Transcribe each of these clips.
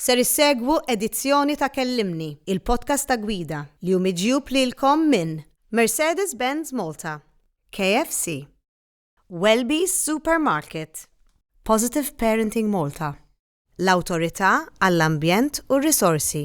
Ser issegwu edizzjoni ta' Kellimni, il-podcast ta' Gwida, li hu miġjub lilkom minn Mercedes-Benz Malta, KFC, Welby's Supermarket, Positive Parenting Malta, l-Awtorità għall-Ambjent u r-Risorsi,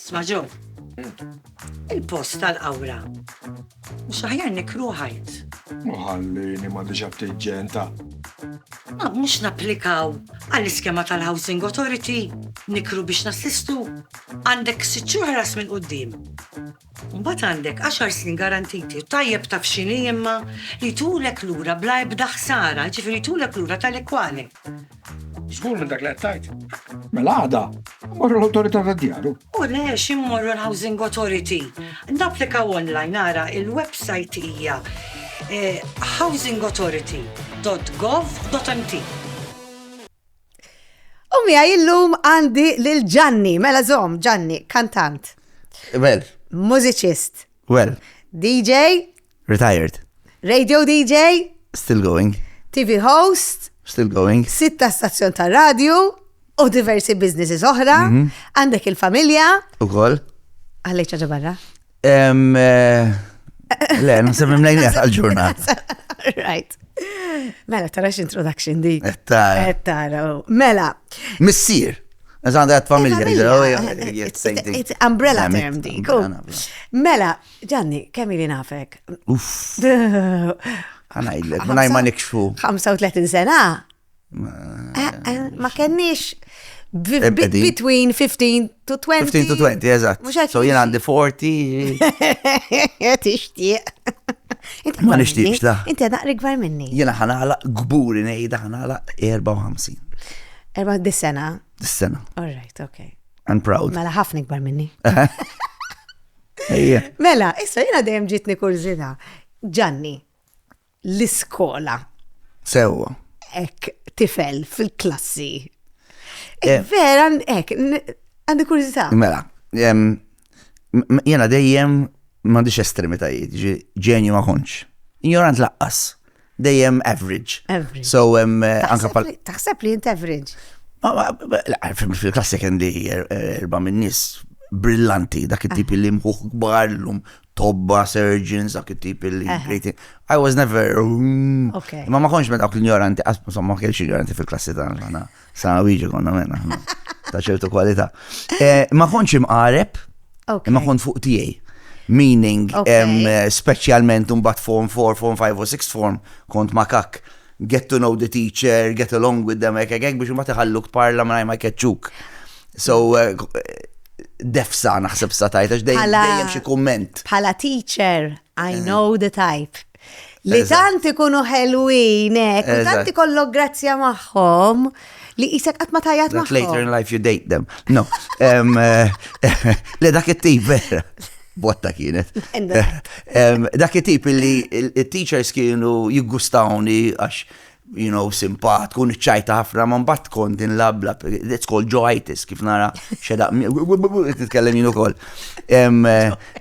Sma' Joe, il-post tal-qawra mhux aħjar nikru ħajt? Ma ħallini ma' diġà ftit ġenta. Ma mhux napplikaw għall-iskema tal-Housing Authority nikru biex nassistu? Għandek sitt xhur ħlas minn quddiem. Mbagħad għandek għaxar snin garantiti u tajjeb taf x'inhi imma li jtulek lura bla ebda ħsara, jiġifieri jtulek lura tali kwali. Żgur minn dak li qed tajt. Mela għada, morru l-awtorità tad-djaru. U le ximmorru l-Housing Authority. Napplikaw online ara il-website hija eh, housingauthority.gov.mt. U mija illum għandi lil Ġanni, mela zom, Ġanni, kantant, Well, mużiċist, well. DJ, Retired. Radio DJ. Still going. TV host. Still going. Sitta stazzjon ta' radio u diversi businesses oħra. Mhm. Għandek il-familja. U koll. Għallej ċaġa barra. Eh, le, nasib mimlejn għal-ġurnat. Right. Mela, tarax introduction di. Eh, tara. Eh, tara. Oh. Mela. Missir. Eżan għat familja. It's umbrella term di. Mela, Ġanni, kemm ili nafek? Uff. Għanajdlek, ma ma nikxfu. 35 sena? Eh, eh, ma kenniex between 15 to 20. 15 to 20, eżatt. So jien għandi 40. Tixtieq. Ma nixtieqx la. Inti għadaq rigvar minni. Jena ħanala gburi nejda ħanala 54. Erba dis-sena? Dis-sena. All right, okay. I'm proud. Mela ħafna ikbar minni. Mela, issa jena dejjem ġitni kurzita. Ġanni, l-iskola. Sewa. Ek, tifel fil-klassi. Ek, eh. vera, ek, għandi kurzita. Mela, jena dejjem mandiċ estremitajiet, ġenju ma konċ. Ignorant laqqas. dejjem average. Average. So, taħseb li jint average. Fil-klassi kien li erba minn nis brillanti, dak it-tip li mħuħ kbar l-lum tobba, surgeons, dak it-tip li I was never. Mm. Ma ma konx me dawk l-ignoranti, insomma, ma kienx ignoranti fil-klassi dan. Sa' Luigi konna menna. Ta' ċertu kwalità. Eh, ma konċ imqareb, ma kont fuq tiegħi. Meaning, eh, specialment un bat form 4, form 5 u 6 form, kont ma kak get to know the teacher, get along with them, ek, ek, ek, biex ma teħalluk parla ma ma keċċuk. So, eh, defsa naħseb sa tajta, dejjem xi kumment. Bħala teacher, I eh. know the type. Li tant ikunu ħelwin, ek, u tant ikollok grazzja magħhom li jisek qatt ma tajjat magħhom. Later in life you date them. No. Eh, li dak it-tip vera. Botta kienet. Dak it-tip li il-teachers kienu jiggustawni għax you know, simpatku, niċċajta ħafna, ma mbagħad tkun din labla, it's called joitis, kif nara xedaq, nitkellem jien ukoll. Eh,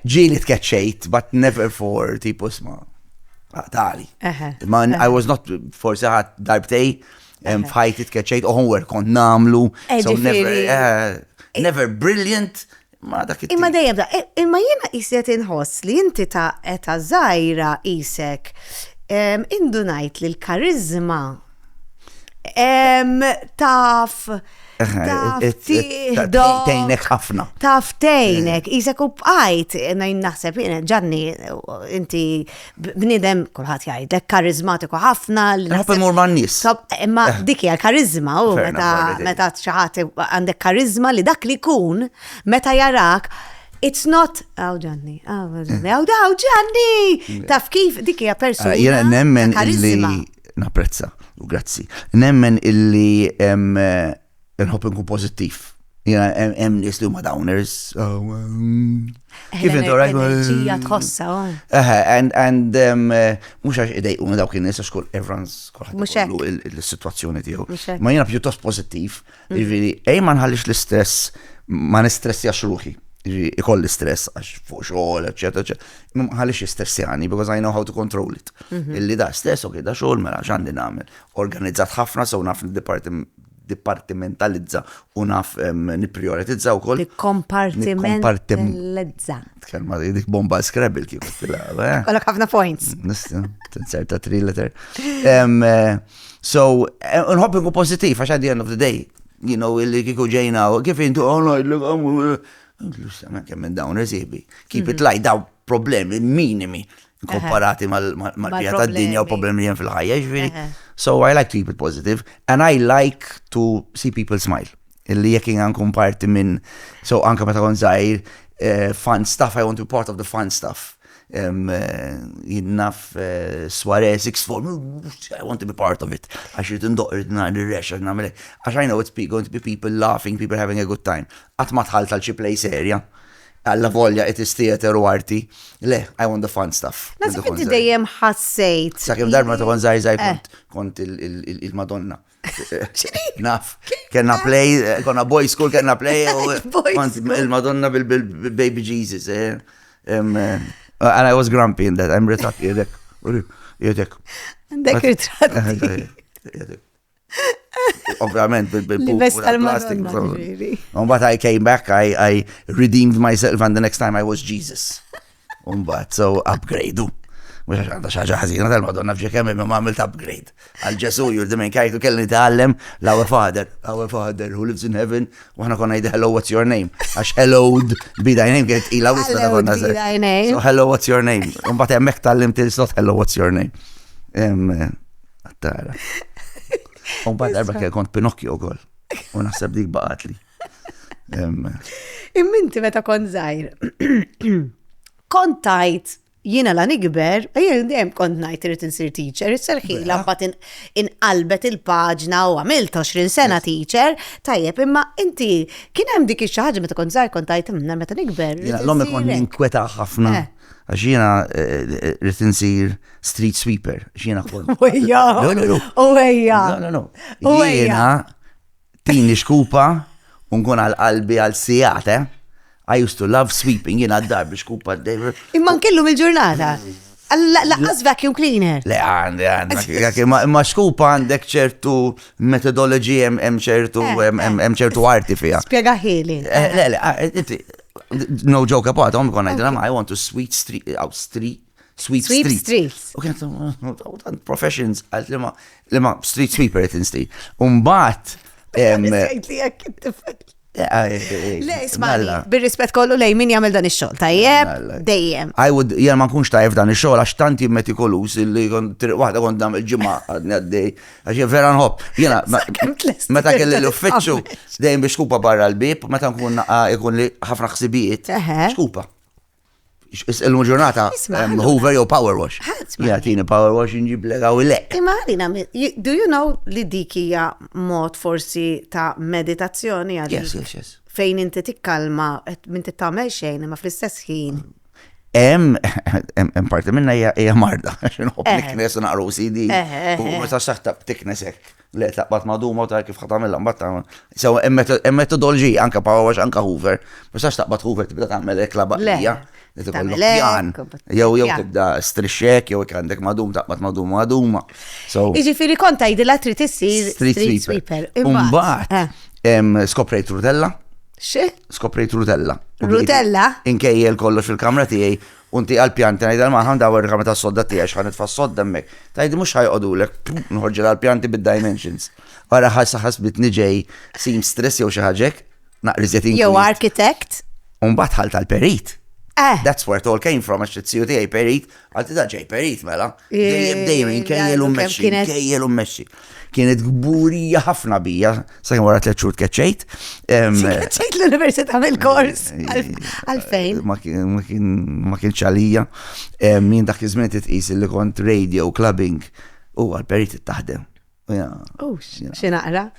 ġieli tkeċċejt, but never for tipu sma. Ah, tali. Ma I was not forse ħadd darbtej f'ħajti tkeċċejt u homework kont namlu. Eh, so never, eh, never brilliant, ma dak Imma dejjem da, e, imma jiena qiset inħoss li inti ta' eta żgħira isek indunajt li l-karizma taf Tejnek ħafna. Taf tejnek, jisek u bqajt, najn naħseb, ġanni, inti bnidem, kulħadd jgħidlek, karizmatiku ħafna. Nħobb imur ma' nies. Imma eh. dik hija karizma u meta meta xi ħadd għandek karizma li dak li jkun meta jarak It's not, għaw ġanni, għaw ġanni, għaw għaw ġanni, mm. taf kif dik hija persuna. Ah, jena nemmen illi, naprezza, u grazzi, nemmen illi eh, Nħobb inkun pożittiv. Jena, hemm nies li huma downers. Oh, mm. eh, Kif intu rajt? Ġija mm. tħossa. Oh. Eh, and, and, um, eh, mux għax idejqu dawk in-nies għax kull everyone's kulħadd il-situazzjoni tiegħu. Ma jena pjuttost pożittiv. Mm. Jiġifieri, ej ma nħallix l-istress, ma nistressjax ruħi. Jiġifieri, ikolli stress għax fuq xogħol, eċetera, eċetera. Ma nħallix jistressjani because I know how to control it. Mhm. Illi da stress, ok, da xogħol mela x'għandi nagħmel. Organizzat ħafna sew naf il-departiment niddipartimentalizza u naf nipprijoritizza wkoll. Nikkompartimentalizza. Tkellma dik bomba scrabble kif tilgħab. Eh? Kollok ħafna points. Nista, tinserta three letter. Eh, so, eh, nħobb nkun pożittiv għax at the end of the day, you know, illi kiku ġejna, kif intu għonoj, oh, oh, oh, l-għom, l-għom, kemm minn dawn reżibi. Keep it mhm. light, daw problemi minimi. komparati mal-pija ta' dinja u problemi li jen fil-ħajja, ġviri. So I like to keep it positive and I like to see people smile. Illi jek għankun parti minn, so anka meta kon zaħir, eh, fun stuff, I want to be part of the fun stuff. Eh, jinnaf eh, soiree, six form, I want to be part of it. Għax jrid indoq irrid nar nirrex, għax namel Għax I know it's going to be people laughing, people having a good time. Għat ma tħal tal-xi play serja. Allavolja it is theater u arti. Le, I want the fun stuff. Nasib inti dejjem ħassejt. Sakemm darba ta' konzaj zaħi eh. kont kont il-Madonna. Naf, kena play, eh, konna boy school, kena play, kont il-Madonna bil-baby Jesus. Eh. And I was grumpy in that, I'm retrat, jedek, jedek. Għandek ritratti. Ovvjament, bil-plastik. Umbat, I came back, I, I redeemed myself, and the next time I was Jesus. Umbat, so upgrade. Mux għax għanda xaġa ħazina tal-Madonna fġi kemm imma għamilt upgrade. Għal Ġesu jurdi minn kajtu kelli tgħallem l-Our Father, Our Father who lives in heaven, u ħana konna jdi hello what's your name. Għax hello be thy name kienet ila wisna ta' konna se. So hello what's your name. Umbat hemmhekk tal-lim til-slot hello what's your name. Għattara. Un bad darba kien kont Pinocchio kol. U naħseb dik baqatli. Imminti meta kont zaħir. Kont tajt jina la nikber, jien dejjem kont najt irrit insir teacher, is-serħila mbagħad inqalbet il-paġna u għamilt 20 sena teacher, tajjeb imma inti kien hemm dik ix-xi ħaġa meta kont zaħir kont tajt minn meta nikber. L-ommi kont ninkweta ħafna. Eh. Għax jiena rrit insir street sweeper, għax jiena kol. Uwejja! Uwejja! Uwejja! Tini xkupa, unkun għal qalbi għal sijate. Eh? I used to love sweeping, jina d-dar biex kupa d-dejver. Imman kellu mil-ġurnata. Laqqas vacuum cleaner. Le għandi għandi. Ma xkupa għandek ċertu metodologi hemm ċertu hemm ċertu arti fija. Spiega ħili. Eh, le le, ah, eh, No joke about, għom għon għajdra ma' I want to sweet street, out uh, street, sweet street. Sweet streets. U kienet, tant professions, għalt li ma, li ma street sweeper it insti. Umbat, Le, ismali, bil-rispet kollu lej min jagħmel dan ix-xogħol, tajjeb, dejjem. I would, jgħal ma nkunx tajjeb dan ix-xogħol għax tanti metikolus li triq waħda kont dam il-ġimgħa għadni għaddej Għax jien vera nħobb. Jiena meta kelli l-uffiċċju dejjem biex skupa barra l-bib, meta nkun ikun li ħafna ħsibijiet, skupa. Illum ġurnata Hoover jew Power Wash. Jagħtini Power Wash inġib lega u lek. Imma għalina, do you know li dik hija mod forsi ta' meditazzjoni għalina? Yes, yes, yes. Fejn inti tikkalma, minn tittamel xejn, imma fl-istess ħin. Mm. Em, em, em parti minna hija hija marda, għax inħobb Eħe. niknes u naqru CD. Eħe, eħe, U eħe. meta saħta tiknes hekk, le taqbad maduma u ta' kif ħatamilla mbagħad tagħmel. Sewa hemm meto- hemm metodoloġija anke power wash anke Hoover, ma sax taqbad Hoover tibda tagħmel hekk la baqlija. Le. Li tibda Tagħmel hekk, pjan. u bat- Jew jew pjan. tibda strixxek jew jekk għandek madum taqbad madum maduma. So Iġifiri kont għidila trid issir street sweeper. Imbagħad. eh, em, skoprejt rudella. Xi? Skoprejt rutella. Rutella? Inkejjel kollox fil-kamra tiegħi unti għal-pjanti ngħidha l-maħam dawar il-kamra tas-sodda tiegħi x'ħan nitfa' s-sodda hemmhekk. Tgħidi mhux ħajqogħdulek, nħorġilha għall-pjanti bid-dimensions. Wara ħassa ħasbitni ġej seamstress jew xi ħaġek, naqriżet inkwiet. Jew architect. Umbagħad ħalt tal-perit. Eh. That's where it all came from, għax it-siju tiegħi perit Għaddi ta' ġej perit mela. Dejjem dejjem inkejjel u mmexxi, inkejjel u mmexxi. Kienet gburija ħafna bija, sa' wara tliet xhur tkeċċejt. Tkeċċejt l-Università mill-kors. Għalfejn? Ma kienx għalija. Min dak iż-żmien titqis li kont radio clubbing u għal-perit taħdem. Oh, xi naqra?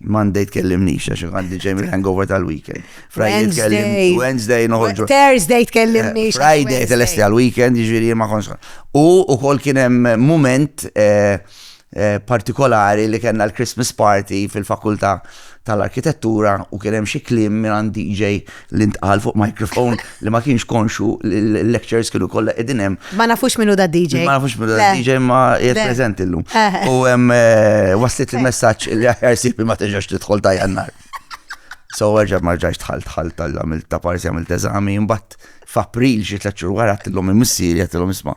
Monday tkellimnix, għax għandi ġejmi hangover tal-weekend. Friday tkellimnix. Wednesday noħorġu. Thursday tkellimnix. Eh, Friday telesti għal-weekend, ġviri ma konsa. U u kol kienem moment eh, eh, partikolari li kena l-Christmas party fil-fakulta tal-arkitettura u kien hemm xi kliem mingħand DJ li ntqal fuq microphone li ma kienx konxu li l-lectures kienu kollha qegħdin hemm. Ma nafux minnu da DJ. Ma nafux minnu da DJ ma qiegħed preżenti llum. Eh. U hemm eh, waslit il-messaġġ li aħjar sibi ma terġax tidħol ta' jannar. So erġa' ma rġajx tħall tħall tal-għamil ta' parsi għamil teżami, imbagħad f'April xi tliet xhur wara tillhom il-missieri għatilhom isma'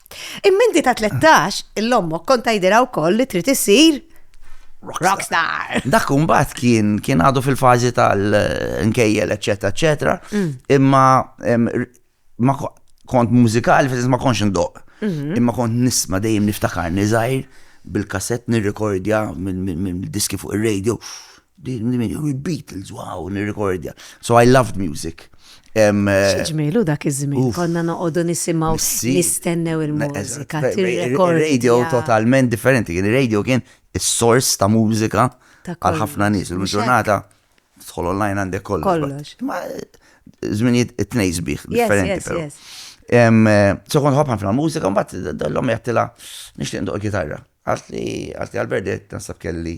Imminti ta' 13, l-ommok kont tajdira wkoll li trid issir Rockstar. Dak kumbat kien kien għadu fil-fazi tal-nkejjel, eccetera, eccetera. Mm. Imma ma kont mużikali, fil ma konx ndoq. Mhm. Imma kont nisma dejjem niftakar nizajr bil-kassett nirrekordja minn diski fuq il-radio. Din minn minn juri Beatles, wow, nirrikordja. So I loved music. Xġmilu dak iż-żmien, konna noqogħdu nisimgħu nistennew il-mużika. Radio totalment differenti, kien ir-radio kien is-sors ta' mużika għal ħafna nies. Il-ġurnata tħol online għandek kollox. Kollox. Ma żminijiet it-tnejn sbieħ differenti però. So kont ħobħan fil mużika, mbagħad l-lom jgħattila nixtieq ndoq il-kitarra. Għasli għasli għal-berdet nasab kelli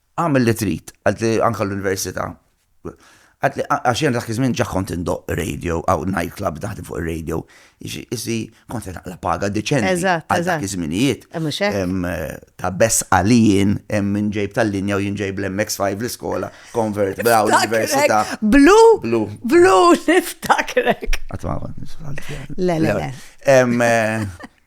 Agħmel li trid, qaltli anke l-università. Qaltli għax jiena dak iż-żmien ġa kont indoqq radio, hawn night club naħdem fuq ir-radio. Jiġifieri kont qed naqla' paga deċenti. Eżatt, eżatt. Għal dak iż-żminijiet. Eh mhux hekk. Ta' besqa li jien hemm min ġej b'tal-linja u jien ġej bl-MX-5 l-iskola, convert bla l-università. Blu! Blu! Blu! Niftakrek! Qatt ma kont niftakar. Le, le, le.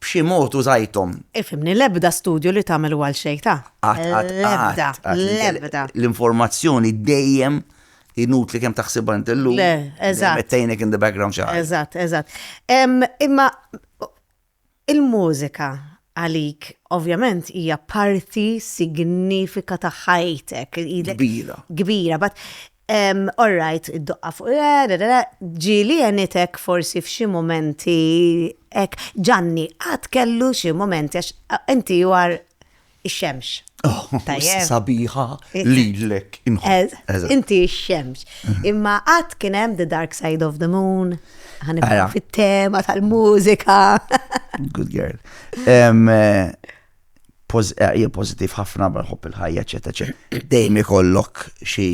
b'xi mod użajthom. Ifhimni, l-ebda studju li tagħmel hu għal xejn, ta? Qatt, qatt, L-ebda, qatt. l-ebda. L-informazzjoni dejjem inutli kemm taħsibha int illum. Le, eżatt. Qed tgħinek in the background xi ħaġa. Eżatt, eżatt. Em, Imma il-mużika għalik ovvjament hija parti signifika ta' ħajtek. Ilek- Kbira. Kbira, but All right, id-doqqa fuq, ġieli għenitek forsi f'xi mumenti hekk. Ġanni, qatt kellu xi mumenti għax inti you are ix-xemx. Tajjeb. Sabiħa lilek. Inti x-xemx. Imma qatt kien hemm the dark side of the moon? Ħa nibqgħu fit-tema tal-mużika. Good girl. eh, pożittiv ħafna, barħobb il-ħajja, eċetera, eċetera. Dejjem ikollok xi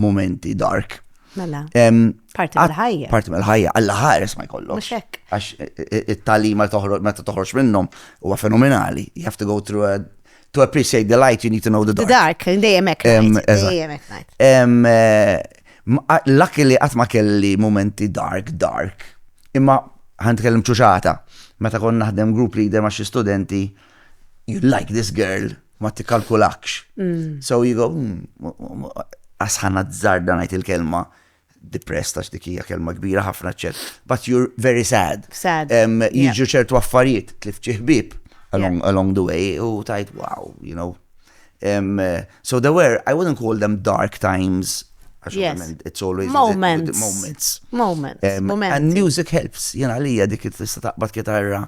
momenti dark. Mela. Parti mill-ħajja. Parti mill-ħajja, għalla ħares ma jkollok. Muxek. Għax e, e, e, it-talima meta toħroġ minnhom huwa fenomenali. You have to go through a to appreciate the light, you need to know the dark. The dark, dejjem hekk. Dejjem hekk. M lucky li qatt ma kelli mumenti dark dark. Imma, ħa nitkellem ċuċata, meta kont naħdem group leader ma' xi studenti, you like this girl, ma tikkalkulakx. So you go umm, as ħa nazzarda ngħid il-kelma depressed għax dik hija kelma kbira ħafna eċċett, but you re very sad. Sad. Em jiġu ċertu affarijiet, tlift xi ħbieb along along the way u tgħid wow, you know. So there were, I wouldn't call them dark times, Yes. It's always moments. Moments. Moments. Um, moments. And music helps. Jena lija dik tista taqbad kitarra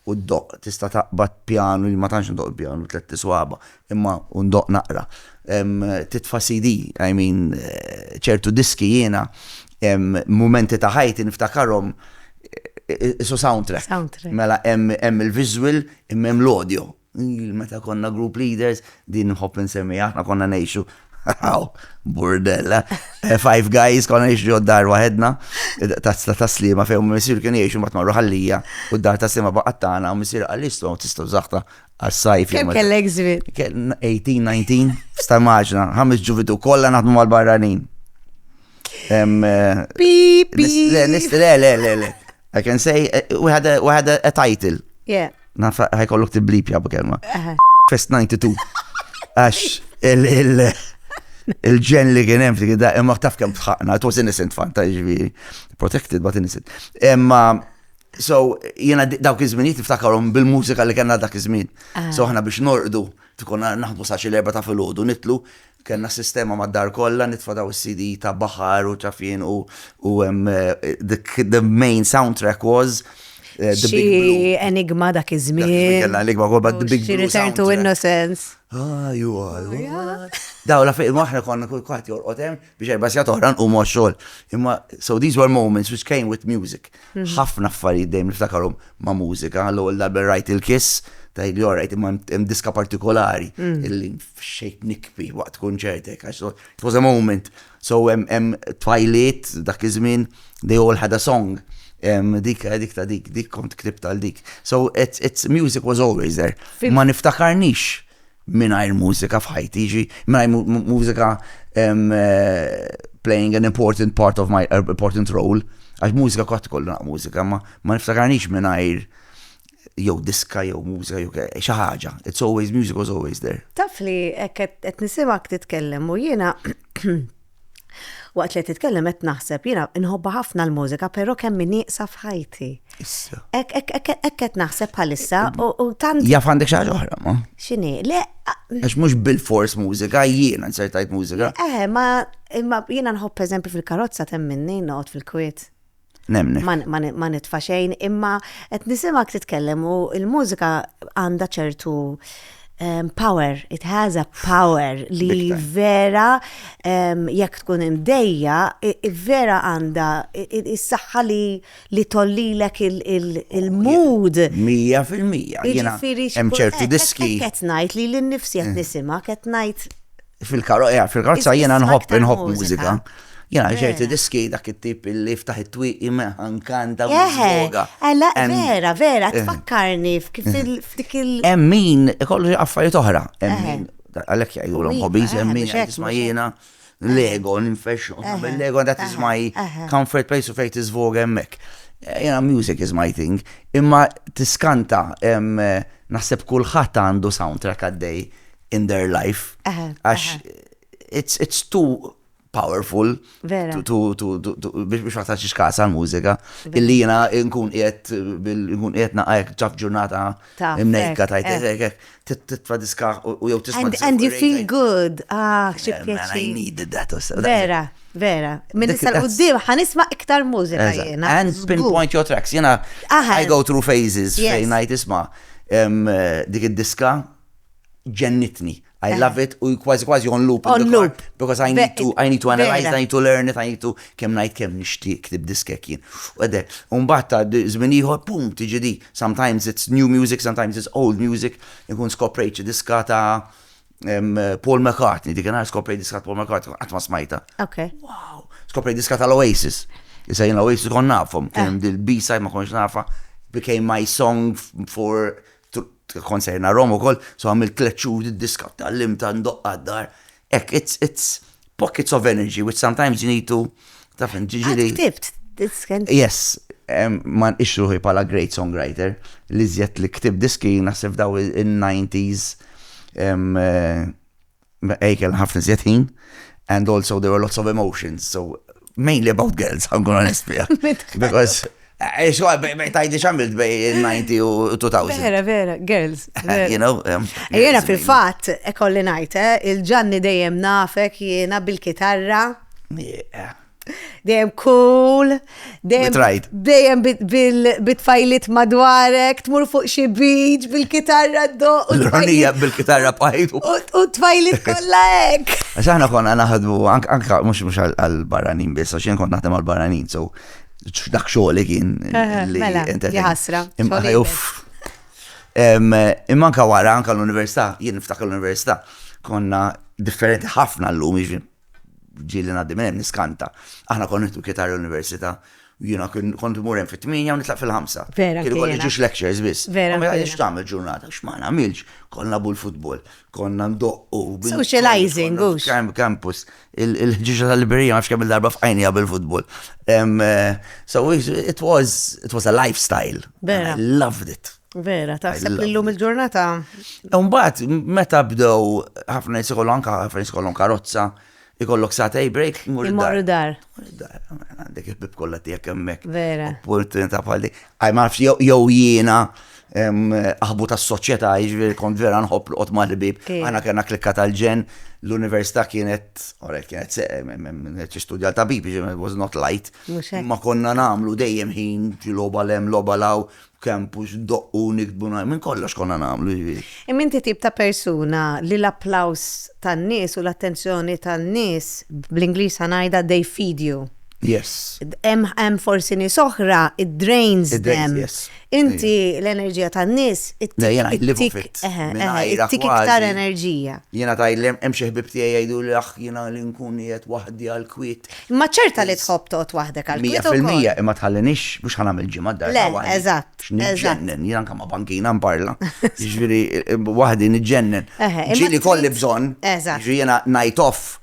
u d-doq, tista taqbad pjanu, ma tanx ndoq pjanu tlet tiswaba, imma u ndoq naqra. Um, titfa CD, I mean, eh, ċertu diski jena, um, momenti ta' ħajti niftakarom eh, eh, isu soundtrack. Soundtrack. Mela hemm il-visual, imma hemm l-audio. Ilu meta konna group leaders, din nħobb insemmiha, aħna konna ngħixu Aw, burdella. Eh, five guys konna ngħixu ġod dar waħedna, tazza ta' slima fejn u missier kien jgħixu mbagħad marru ħallija u d-dar ta' slima baqgħet tagħna u missier qal istu tistgħu żaħta għas-sajf. Kemm kellek żmien? 18, 19, sta' maġna, ħames ġuvitu kollha naħdmu mal-barranin. Eh, Pip, pip. Le, le, le, le. I can say, we had a, we had a, a title. Yeah. Naf, ħajkollok t-blip jabu kelma. Fest 92. Għax, il, il, il-ġen li kien hemm f'dik id-daqqa, imma taf kemm tħaqna, it was innocent fan ta' ġifieri, protected but innocent. Imma so jiena dawk iż-żminijiet niftakarhom bil-mużika li kellna dak iż-żmien. So aħna biex norqdu tkun naħdmu sa xi l-erba' ta' filgħodu nitlu Kellna sistema mad-dar kollha nitfadaw is-CD ta' Bahar u Ċafien u u hemm the main soundtrack was The Big Blue. Xi enigma dak iż-żmien. Kellna enigma wkoll but The Big Blue. Return to Innocence. Ah, you are. Daw la fejn aħna konna kull kwaħt jorqod hemm biex erba' sigħat oħra nqumu għax-xogħol. Imma so these were moments which came with music. Ħafna affarijiet dejjem niftakarhom ma' mużika. L-ewwel darba li rajt il-Kiss, tgħidli all right, imma hemm diska partikolari li fxejt nikbi waqt kunċert hekk għax it was a moment. So hemm tfajliet dak iż-żmien, they all had a song. Dik ta' dik, dik kont ktibt għal dik. So music was always there. Ma niftakarnix Mingħajr mużika f'ħajti, jiġri mingħajr mużika playing an important part of my important role, għax mużika kott kollu naq mużika, ma ma niftakarnix mingħajr jew diska jew mużika jew xi ħaġa. It's always music was always there. Taf li qed nisimgħek titkellem u jiena Waqt li qed titkellem qed naħseb, jiena nħobbha ħafna l-mużika, però kemm hi nieqsa f'ħajti. Issa. Hekk qed naħseb bħalissa u tant. Jaf għandek xi ħaġa oħra, ma? X'inhi? Le. Għax mhux bil-fors mużika, jiena nsertajt mużika. Eh, ma jiena nħobb eżempju fil-karozza temminni noqgħod fil-kwiet. Nemni. Ma nitfa xejn, imma qed nisimak titkellem u l-mużika għandha ċertu ehm, power, it has a power li vera ehm, jekk tkun imdejja, vera għandha is-saħħa li tollilek il-mood. Mija fil-mija. Jiġifieri hemm ċertu diski. Qed ngħid li l-nifsi qed mm. nisimha, qed ngħid Fil-karozza, fil-karozza jiena nħobb nħobb mużika. Jena, ċerti diski dak it-tip li ftaħ it-twiq imeħan kanta u joga. Għala, vera, vera, eh. tfakkarni f'kif eh. il-ftik il- Emmin, kollu affarijiet oħra. Emmin, eh. għalek jgħajulom hobbies, emmin, jisma jena. Lego, ninfex, Lego, that is my comfort place of fate is vogue emmek. Jena, music is my thing. Imma tiskanta, naħseb kullħat għandu soundtrack għaddej in their life. Għax it's, it's too powerful biex ma taċċix kasa l-mużika. Illi jina nkun qiegħed nkun qiegħed naqajk ġaf ġurnata imnejka tajt titfa diska u jew tisma' And you feel good. Ah, xi pjaċir. I needed that. Vera, vera. Minn issa l-qudiem ħanisma' iktar mużika jiena. And pinpoint your tracks. Jiena I go through phases fejn ngħid isma' dik id-diska ġennitni. I eh. love it, u kważi kważi on loop. On loop. Because I need to, I need to analyze, I need to learn it, I need to kem najt kem nishti ktib diskek jien. U għedek, unbat ta' zminiħor, pum, tiġi di. Sometimes it's new music, sometimes it's old music. Nkun skoprejċi diska ta' Paul McCartney, dik għana skoprejt diska ta' Paul McCartney, għatma smajta. Ok. Wow, skoprejt diska ta' l-Oasis. Issa jina l-Oasis kon nafom, kien eh. dil-B-side ma konx nafa, became my song for Konserna Rom ukoll, so għamilt tliet xhur id-diska tgħallimta ndoqqa d-dar. Ek, it's, it's pockets of energy which sometimes you need to taf ġiġiri. Ktibt, disken. Yes, man ixruħi pala great songwriter li zjed li ktib diski nasib daw in-90s eh, Ej kellna ħafna iżjed ħin and also there were lots of emotions, so mainly about girls, I'm gonna honest bija. Because eh, Xo, tajdi xamilt bej 90 u 2000. Vera, vera, girls. You know. Um, eh, jena fil-fat, ekolli najte, eh, il-ġanni dejjem nafek jena bil-kitarra. dejjem cool, dejjem bit-tfajlit madwarek, tmur fuq xi beach bil-kitarra do. L-ronija bil-kitarra bħajt. U tfajlit kollha hekk. Għax aħna konna naħdmu anke mhux mhux għall-barranin biss, għax jien kont naħdem għall-barranin, so dak xogħol kien. Mela, jħasra. Imma anka wara, anka l-università, jien niftakar l-università, konna differenti ħafna l-lum, ġieli ngħaddi minn hemm niskanta. Aħna konna nieħdu kitarra l-università u jiena kont imur hemm fit-tminja u nitlaq fil-ħamsa. Vera. Kienu kont jiġux lectures biss. Vera. Ma jgħidx tagħmel ġurnata, x'ma nagħmilx, konna bu l-futbol, konna ndoqqu. Socializing, għux. Kemm campus, il-ħġiġa tal-liberija ma kemm il-darba f'għajnija bil-futbol. Eh, so it was, it was a lifestyle. Vera. I loved it. Vera, taħseb li l-lum il-ġurnata. Umbat, meta bdew ħafna jisikollu anka ħafna jisikollu karozza, ikollok satej break, mur dar. Għandek il-bib kollha tiegħek hemmhekk. Vera. Opportunità bħal dik. Għaj ma nafx jew jiena aħbu tas soċjetà jiġri kont vera nħobb l qot mal-bib. Għana kena klikka tal-ġen, l-università kienet, orek kienet kienet istudja ta' bib, was not light. Ma konna namlu dejjem ħin ġiloba lem, loba law, b'campus, ndoqqu, niktbu, ngħid, minn kollox konna nagħmlu, jiġifieri. Imma inti tip ta' persuna li l-applaws tan-nies u l-attenzjoni tan-nies, bl-Ingliż ħa ngħidha they feed you. Yes. Hemm forsi nies oħra it drains them. It drains, yes. Inti l-enerġija tan-nies it Le, jiena I live off it. tik eħe, Minn eħe, għajra ittik iktar kważi. enerġija. Jiena tgħidlem hemm xi ħbieb tiegħi jgħiduli aħ jiena li nkun qiegħed waħdi għall-kwiet. Imma ċerta li tħobb toqgħod waħdek għal kwiet ukoll. Mija fil-mija, imma tħallinix biex ħa nagħmel ġimgħa d-dar ta' waħdi. Le, eżatt. X'niġġennen, jien anke ma' bankina nparla. Jiġifieri waħdi niġġennen. Ġieli kolli bżonn. Eżatt. Jiġifieri jiena night off,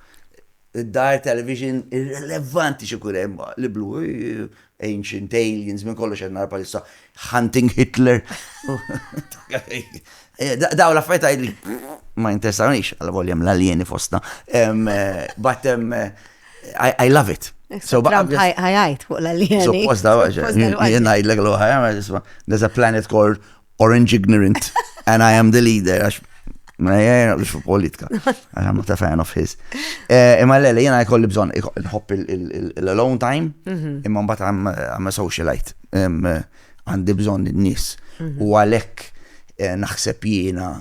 id-dar, television, irrelevanti xi jkun hemm, li blu, Ancient Aliens, minn kollox qed nara bħalissa Hunting Hitler. Dawn l-affarijiet għidli ma jinteresanix għal volja hemm l-aljeni fostna. But I love it. So Trump ħajajt fuq l-aljeni. Suppost da għaxa. Jien ngħidlek l-oħra, there's a planet called orange ignorant and I am the leader. Għax ma jgħajna biex fu politika. Għax I'm not a fan of his. Eh, imma l-għalli jena jkolli bżon nħobb l-alone time, mhm. imma mbat I'm a socialite. Eh, għandi bżon n-nis. Mhm. U għalek eh, naħseb jena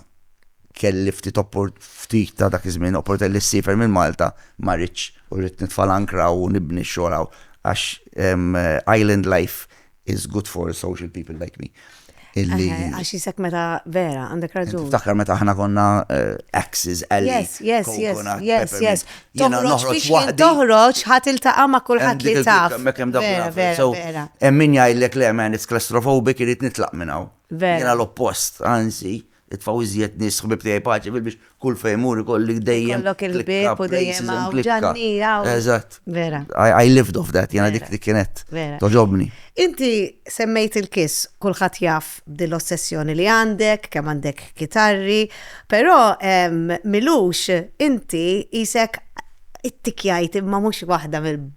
kelli ftit ftit ta' dak iż-żmien opportunità li ssifer minn Malta ma rridx u rrid nitfal ankra u nibni xogħol għax island life is good for social people like me. Illi. Eh, għax jisek meta vera, għandek raġun. Takkar meta ħna konna eh, axes, għalli. Yes, yes, yes, yes, yes. Jena noħroċ waħdi. Toħroċ ħat il-taqa ma kullħat li taf. Mekem da vera, vera. Emmin jajlek le, man, it's claustrophobic, irrit nitlaq minnaw. Vera. Jena l-oppost, anzi. Itfgħu iżjed nies ħbieb tiegħi paċi fil biex kull fejn mur ikolli dejjem. Ikollok il-ħbieb u dejjem hawn ġanni hawn. Eżatt. Vera. I lived off that, jiena dik kienet. Vera. Toġobni. Inti semmejt il-kiss, kulħadd jaf b'din l-ossessjoni li għandek, kemm għandek kitarri, però Milux inti isek ittikjajt imma mhux waħda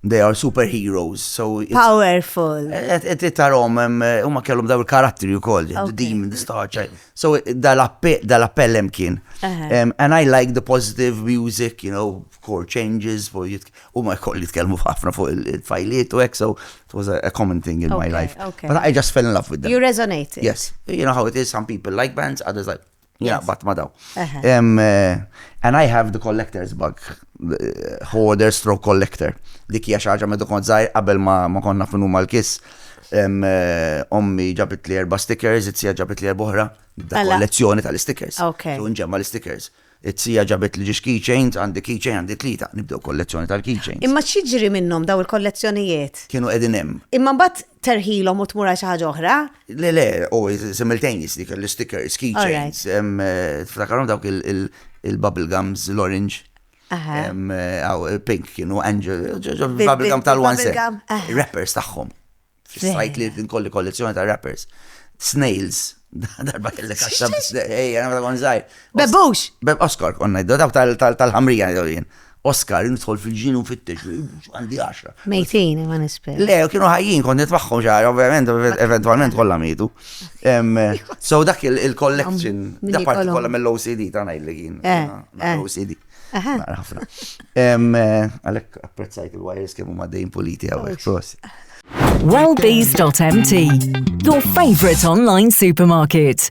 They are super heroes, so... Powerful. Tarom, huma kellhom daw il-karatteri u koll, the demon, the star child. So dal-appell hemm kien. And I like the positive music, you know, chord changes, huma koll jitkellmu ħafna fuq il-fajliet u hekk, so it was a common thing in my life. But I just fell in love with them. You resonated. Yes. You know how it is, some people like bands, others like... Jaqbad ma daw. And I have the collector's bug, hoarder stroke collector. Dik hija xaġa medu kont zaħir qabel ma konna finu mal-kis. Ommi ġabit li erba stickers, it-sija ġabit li erba oħra, da kollezzjoni tal-stickers. Unġemma l-stickers. It-sija ġabit li ġiġ keychains, għandi keychain, għandi tlita, nibdew kollezzjoni tal-keychains. Imma xieġri minnom daw il-kollezzjonijiet? Kienu edinem. Imma bat terħilhom u tmur għal xi ħaġa oħra? Le, le, u simultaneous dik l-stickers, keychains, eh, tiftakarhom dawk il-bubble gums, l-orange. Eh, aw, eh, pink kienu angel, bubble gum tal-one set. Rappers tagħhom. Sajt li nkolli kollezzjoni ta' rappers. Snails, darba kellek għaxta biex, ej, għana għon zaħir. Bebux! Beb Oscar, konna id-daw tal-ħamrija, jien. Oscar, nidħol fil-ġin u fittex, għandi għaxra. Mejtin, ma nisper. Le, kienu ħajjin, kont nitmaħħom xaħar, ovvijament, eventualment kollha mejtu. So dak il-collection, da parti kollha mill-OCD ta' ngħid li kien. Eh, eh. OCD. Ħafna. Eh, għalhekk apprezzajt il-wires kemm huma dejn politi hawnhekk prost. Wellbees.mt, your favorite online supermarket.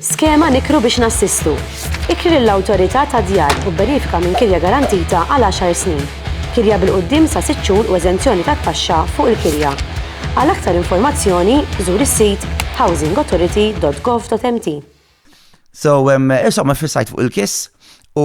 Skema Nikru biex Nassistu. Ikri lill-Awtorità tad-Djar u bbenefika minn kirja garantita għal għaxar snin, kirja bil-quddiem sa sitt xhur u eżenzjoni tat-taxxa fuq il-kirja. Għal aktar informazzjoni, żur is-sit housingauthority.gov.mt. So, insomma fissajt fuq il-kiss u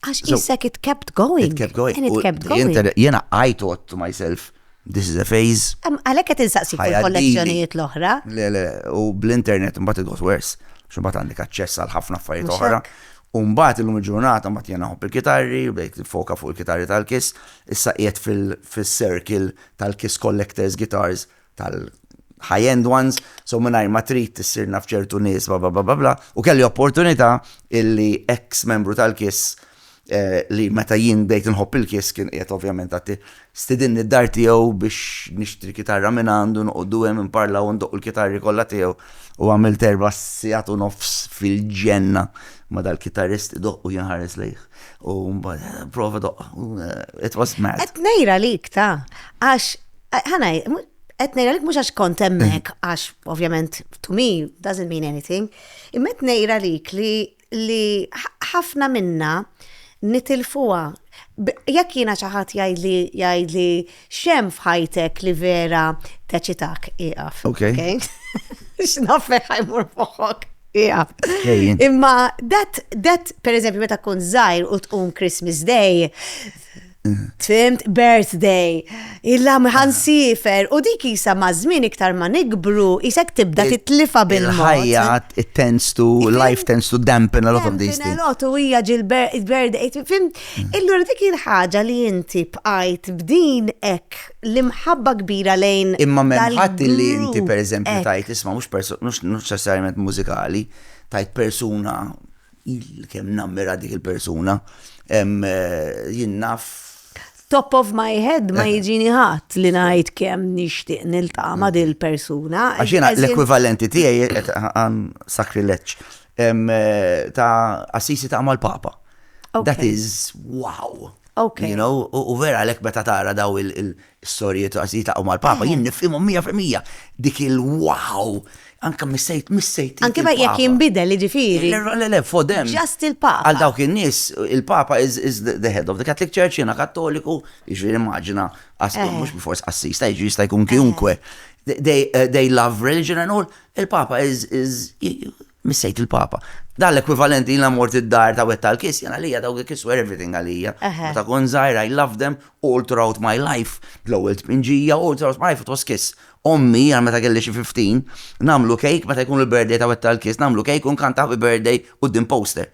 Għax jissek it kept going. It kept going. And it kept going. Jena I thought to myself, this is a phase. Għalek għet insaqsi kollezzjonijiet l-oħra. Le, le, u bl-internet mbat it got worse. Xumbat għandek aċċess għal ħafna affarijiet oħra. Umbat il-lum il-ġurnata mbat jena hopp il-kitarri, u bdejt foka fuq il-kitarri tal-kis, issa qiegħed fil-circle tal-kis collectors guitars tal-high end ones, so mingħajr ma trid tissir naf ċertu nies bla bla bla bla bla, u kelli opportunità illi eks membru tal-KISS li meta jien bdejt inħobb il-KISS kien qiegħed ovvjament għad stidinni d-dar tiegħu biex nixtri kitarra minn għandu noqogħdu hemm inparlaw u ndoqqu l-kitarri kollha tiegħu u għamilt erba' sigħat u nofs fil-ġenna ma' dal-kitarrist idoqq u jien ħares lejh. U mbagħad prova doqq. It was mad. Qed ngħira lik ta' għax Eh, Ħanaj, qed ngħidlek mhux għax kont hemmhekk għax ovvjament to me doesn't mean anything. Imma qed ngħidha lik li li ħ- ħafna minna nitilfuha. B- Jekk jiena xi ħadd jgħidli jgħidli xem f'ħajtek li vera teċitak ieqaf. Ok. Okay? X'nafek ħajmur moħħok. Ieqaf. Ejjin. Imma dat dat pereżempju meta tkun żgħir u tqum Christmas Day Fimt, birthday, illa miħan ah. sifer, u dik jisa mażmin iktar ma nikbru, jisek tibda titlifa bil ħajja it tends to, life tends to dampen a lot of these things. Lot u hija ġil-birthday, fimt, mm. illura dik il-ħaġa li inti bqajt b'din ek l-imħabba kbira lejn. Imma memħat li inti per eżempju tajt isma mux necessarjament mużikali, tajt persuna Kemm nammira dik il-persuna. Jien naf. Top of my head ma jiġini ħadd li ngħid kemm nixtieq niltaqa' ma' din il-persuna. Għax jiena l-ekwivalenti tiegħi għan sakrileġġ ta' assisi ta' mal-Papa. That is wow. Okay. You know, u vera lek meta tara daw Is-sorijiet u għażijiet laqgħu mal-Papa, jien nifhimhom mija fil-mija. Dik il-wow! Anke missejt, missejt. Anke ma jekk jinbidel, jiġifieri. Le, le, fodem. Just il-Papa. Għal dawk in-nies, il-Papa is the head of the Catholic Church, jiena Kattoliku, jiġifieri immaġina, mhux bil-fors qassis, ta' jiġri jista' jkun kiunkwe. They love religion and all, il-Papa is Missejt il-Papa. Dan l-ekwivalent li jiena mort id-dar ta' wieħed tal-kiss, jiena għalija dawk il-kiss were everything għalija. Meta kont żgħir I loved them all throughout my life, l-ewwel tpinġija all throughout my life it was kiss. Ommi, għal meta kelli xi fifteen, nagħmlu cake, meta jkun il-birthday ta' wieħed tal-kiss, nagħmlu cake u nkanta happy birthday quddiem poster.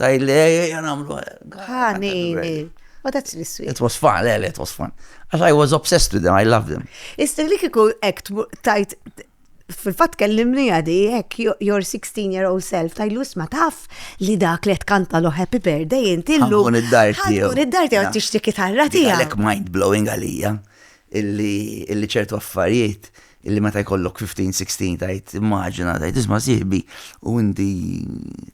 Tajt li ejja namlu. Ħanini. Oh, that's really sweet. It was fun, le, it was fun. As I was obsessed with them, I loved them. Issa li kiku ek tajt fil-fat kellimni għadi, ek your 16 year old self, tajlu isma taf li dak li tkanta lo happy birthday inti l-lum. Għun id-dar tiegħu. Għun id-dar tiegħu tixti kitarra tiegħu. Għalek mind blowing għalija. illi ċertu affarijiet illi meta jkollok 15, 16 tgħid immaġina tgħid isma' sieħbi u inti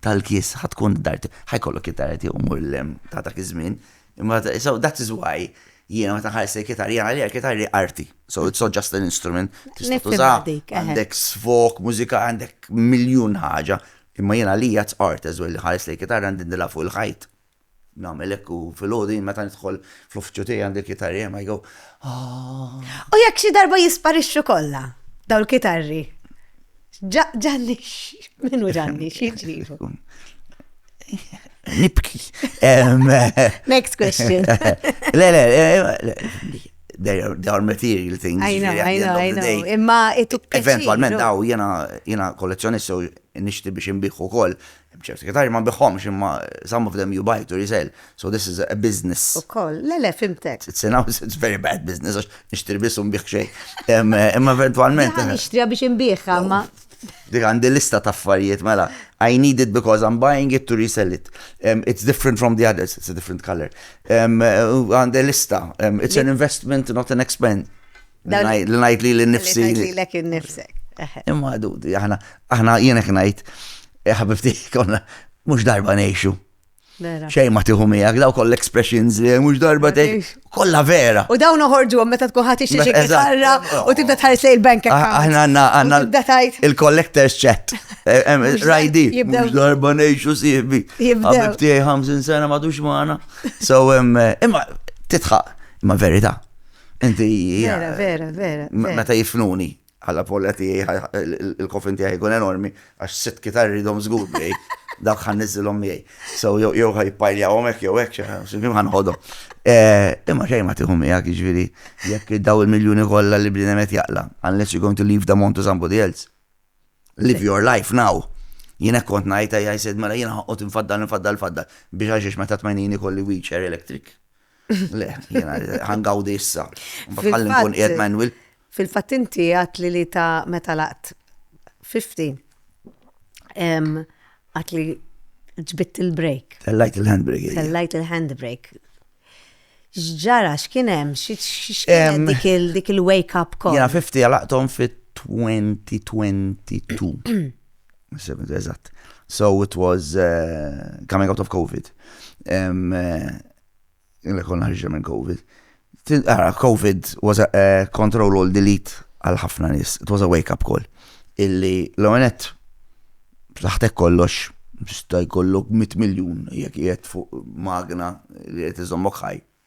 tal-kies ħa tkun d-dar tiegħek ħa jkollok it-tara tiegħu mmur lil hemm ta' dak iż-żmien. Imma so that is why jiena meta nħares lejn kitarri jiena għalija l-kitarri hi arti. So it's not just an instrument. Tista' tuża għandek sfok, mużika, għandek miljun ħaġa. Imma jiena għalija it's art as well li nħares lejn kitarra ndindilha fuq il-ħajt. Nagħmel hekk u filgħodu jien meta nidħol fl-uffiċċju tiegħi għandi l-kitarri hemm I go ah. U jekk xi darba jisparixxu kollha daw l-kitarri. Ġanni, minu ġanni, xieġrifu? Nibki. Next question. Le, le, they are, they are material things. I know, I know, I know. Imma it took Eventualment, daw, jena, jena kollezzjonist, so nishti biex imbiħu kol, Hemm ċerti kitarri ma nbigħhomx imma some of them you buy to resell, so this is a business. Ukoll, le le fhimtek. It's an house, it's very bad business għax nixtri biss u nbigħ xejn. Imma eventwalment. Jiena nixtriha biex inbiegħha imma. Dik għandi lista ta' affarijiet mela. I need it because I'm buying it to resell it. It's different from the others, it's a different color. Għandi lista, it's an investment not an expense. Li najt li l-nifsi. Li najt li l-ek l-nifsek. Imma għadu, aħna, aħna jenek najt, eh, ħabibti, konna, mux darba neħxu. Xej ma tiħu miegħek, daw koll expressions li mhux darba tej, kollha vera. U dawn uħorġu għom meta tkun ħadd ixtieq ikarra u tibda tħares lejn bank ah, account. Aħna għandna għandna il-collectors chat. Eh, eh, rajdi, mhux darba ngħixu sieħbi. Ħabib tiegħi 50 sena madux magħna. So eh, imma titħaq, imma verita. Inti. Vera, vera, vera. Meta jifnuni għalla polla tiegħi il-kofin tiegħi jkun enormi għax sitt kitarri dom żgur bej dak ħan niżilhom miegħi. So jew ħaj pajljawhom hekk jew hekk x'imkien ħan ħodhom. Eh, imma xejn ma tieħu miegħek jiġifieri jekk daw il-miljuni kollha li bniedem qed jaqla unless you're going to leave the amount to somebody else. Live your life now. Jien hekk kont ngħid I said mela jiena ħoqgħod infaddal infaddal infaddal biex għax meta tmenini kolli wheelchair electric. Le, jena, ħangawdi issa. Bħallin kun jgħed Manuel. Fil-fat inti għat li li ta' meta laqt 50. Għat li ġbit il-break. Tellajt il-handbrake. Tellajt il-handbrake. Ġġara, xkienem, xkienem dik il-wake up call. Jena 50 għalaqtom fit 2022. 70, eżatt. So it was uh, coming out of COVID. Um, uh, konna ħarġa minn COVID. Ara, ah, COVID was a uh, control all delete għal ħafna nis. It was a wake up call. Illi l-għonet taħtek kollox jista' jkollok 100 miljun jekk qiegħed fuq magna li qed iżommok ħaj.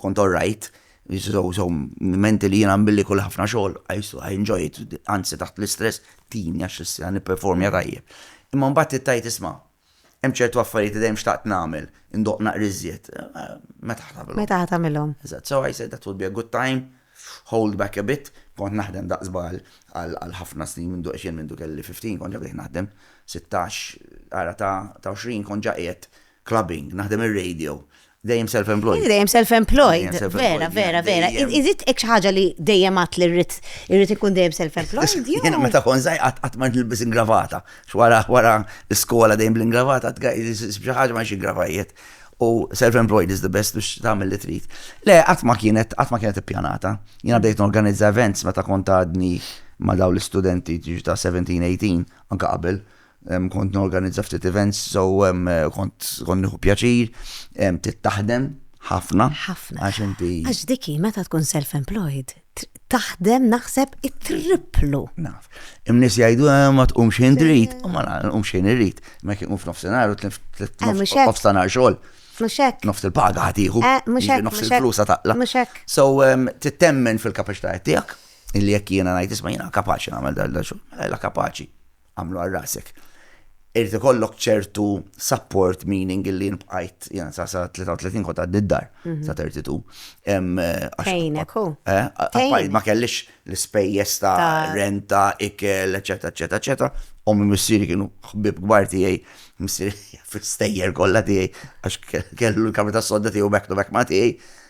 Kont all right, so menti li jien għambilli kull ħafna xogħol, I used to, I enjoy it, anzi taħt l-istress tini għax issa nipperformja tajjeb. Imma mbagħad għidt tgħid isma', hemm ċertu affarijiet li dejjem xtaqt nagħmel, indoqq naqra iżjed, meta ħa tagħmilhom? Meta ħa tagħmilhom? Eżatt, so I said that would be a good time, hold back a bit, kont naħdem daqs bagħal għal ħafna snin mindu għax jien mindu kelli 15 kont ġa bdejt naħdem, sittax, ara ta' għoxrin kont ġa qiegħed Clubbing, naħdem ir-radio. Dejjem self-employed. Inti dejjem self-employed. Vera, vera, vera. Iżid hekk xi ħaġa li dejjem għat li rrid irrid ikun dejjem self-employed. Jiena meta kon żgħir qatt qatt ma nilbis ingravata. X'wara wara l-iskola dejjem bl-ingravata xi ħaġa ma xi gravajiet. U self-employed is the best biex tagħmel li trid. Le, qatt ma kienet qatt ma kienet ippjanata. Jiena bdejt norganizza events meta kont għadni ma' daw l-istudenti ġiġi ta' 17-18 anke qabel. Kont norganizza ftit events, so kont nieħu pjaċir, bdiet taħdem ħafna. Ħafna. Għax inti. Għax dik hi meta tkun self-employed, taħdem naħseb it-triplu. Naf. Imnis jgħidu eh, ma tqumx ħin drit, u ma nqumx ħin irrid. Ma kien qum f'nofsinhar u tlif f'nofsinhar eh, xogħol. Muxek. Nofs il-paga ħatiħu. Eh, muxek. Nofs il-flusa taqla. Muxek. So, ehm, tittemmen fil-kapacità tiegħek, illi jekk jiena ngħid isma' jiena kapaċi nagħmel dal xogħol, mela la kapaċi. Agħmlu għal rasek. Irid ikollok ċertu support meaning illi nbqajt jena sa sa 33 kont għaddi d-dar mhm. sa 32. Fejnek hu. Eh, ma kellix l-ispejjeż ta' renta, ikel, eċetera, eċetera, eċetera. Ommi missieri kienu ħbib kbar tiegħi, missieri fil-stejjer kollha tiegħi għax kellu l-kamra tas-sodda tiegħu back to back ma' tiegħi.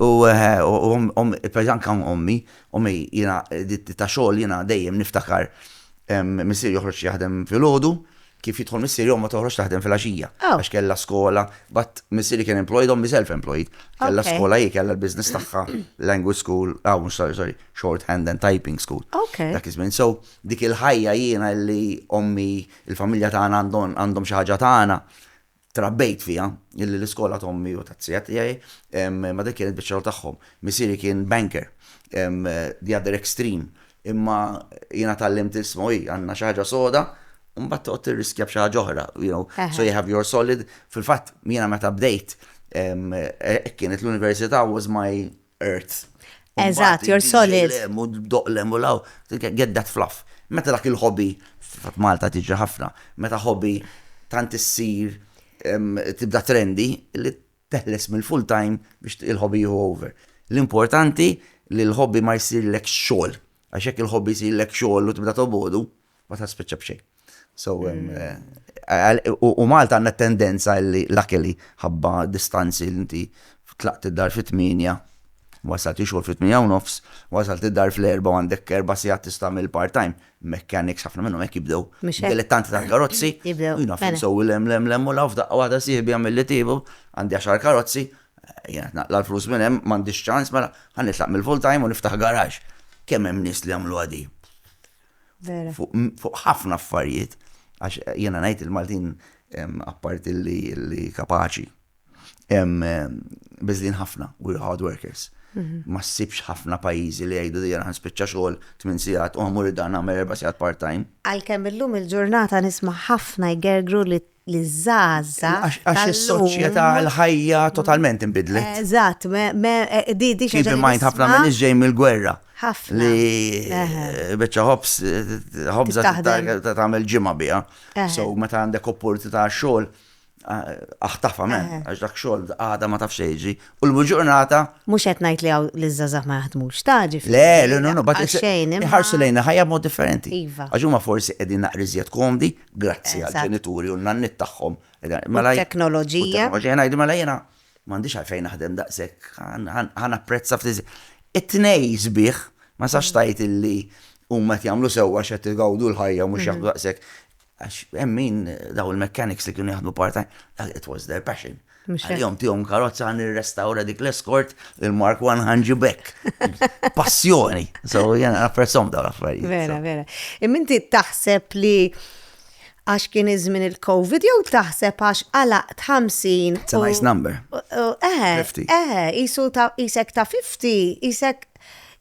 U pereżempju anke hawn ommi, ommi jiena ta' xogħol jiena dejjem niftakar missieri joħroġ jaħdem filgħodu, kif jidħol missieri ommha toħroġ taħdem filgħaxija għax kellha skola, but missieri kien employed ommi self employed, kellha skola hi, kellha l-business tagħha, language school, mhux sorry, sorry, short hand and typing school. Dak iż-żmien, so dik il-ħajja jiena li ommi, il-familja tagħna għandhom xi ħaġa tagħna, Trabbejt fiha, illi l-iskola ta' ommi u tat-tija tiegħi, ma dik kienet biċċa xogħol tagħhom. Missieri kien banker, the other extreme, imma jiena tgħallimt li isma' hi, għandna xi ħaġa soda, u mbagħad toqgħod tirriskja b'xi ħaġa oħra, you know, so you have your solid. Fil-fatt, jiena meta bdejt, hekk kienet l-università was my Earth. Eżatt, you're solid. U doqlem u law, get that fluff. Meta dak il-hobby, f'Malta tiġi ħafna, meta hobby tant issir tibda trendi li teħles mill-full time biex il-hobby jieħu over. L-importanti li l-hobby ma jsirlek xogħol, għax jekk il-hobby jsirlek xogħol u tibda tobogħdu, ma ta' spiċċa b'xejn. So, u Malta għandna tendenza li l-akeli ħabba distanzi li inti tlaqt id-dar fit-8, wasalt ix-xogħol fit-8 u nofs, wasalt id-dar fl-4 għandek erba' sigħat tista' tagħmel part-time, mechanics ħafna minnhom hekk jibdew. Dilettanti tal-karozzi, jina fejn sew lem lem lem u laf daqqa waħda sieħbi għamil li tiebu, għandi għaxar karozzi, jgħat naqla l-flus minn hemm, m'għandix ċans mela ħa nitlaq mill-full-time u niftaħ garax. Kemm hemm nies li għamluha di? fuq ħafna affarijiet, għax jiena ngħid il-Maltin apparti li kapaċi, biżlin ħafna, we're hard workers. Mhm. Ma ssibx ħafna pajjiżi li jgħidu dejja ħan spiċċa xogħol 8 sigħat u ħamur id-dan nagħmel 4 sigħat part-time. Għalkemm illum il-ġurnata nisma' ħafna jgergru li li zaza. Għax il-soċieta l-ħajja totalment imbidlet. Eh, eżatt, eh, di di xaġa. Keep mind ħafna minn iġġej mill-gwerra. ħafna. Li eh, beċa ħobs, ħobza tagħmel ġimgħa biha. So meta għandek opportunità xogħol aħtafa men, għax dak xogħol għada ma tafx jiġi. U l-ġurnata. Mhux qed ngħid li hawn li żgħażagħ ma jaħdmux taġi. Le, le, no, no, bat xejn. Ħarsu lejna ħajja mod differenti. Iva. Għax huma forsi qegħdin naqriżjed komdi grazzi għall-ġenituri u n-nanniet tagħhom. Mela t-teknoloġija. Ngħid mela jiena m'għandix għalfejn naħdem daqshekk, ħa napprezza ftit. It-tnejn sbieħ, ma sax tgħid illi huma qed jagħmlu sewwa għax qed igawdu l-ħajja u mhux jaħdmu daqshekk. Għax hemm min dawn il-mechanics li kienu jaħdmu part-time, it was their passion. Mhux hekk. Għalihom tihom karozza għan nirrestawra dik l-eskort il-Mark 1 ħanġi bekk. Passjoni. So jena napprezzhom dawn l-affarijiet. Vera, so. vera. Imminti taħseb li għax kien iż-żmien il-Covid jew taħseb għax għalaqt 50. It's a nice number. Eh, eh, jisu ta' jisek ta' 50, jisek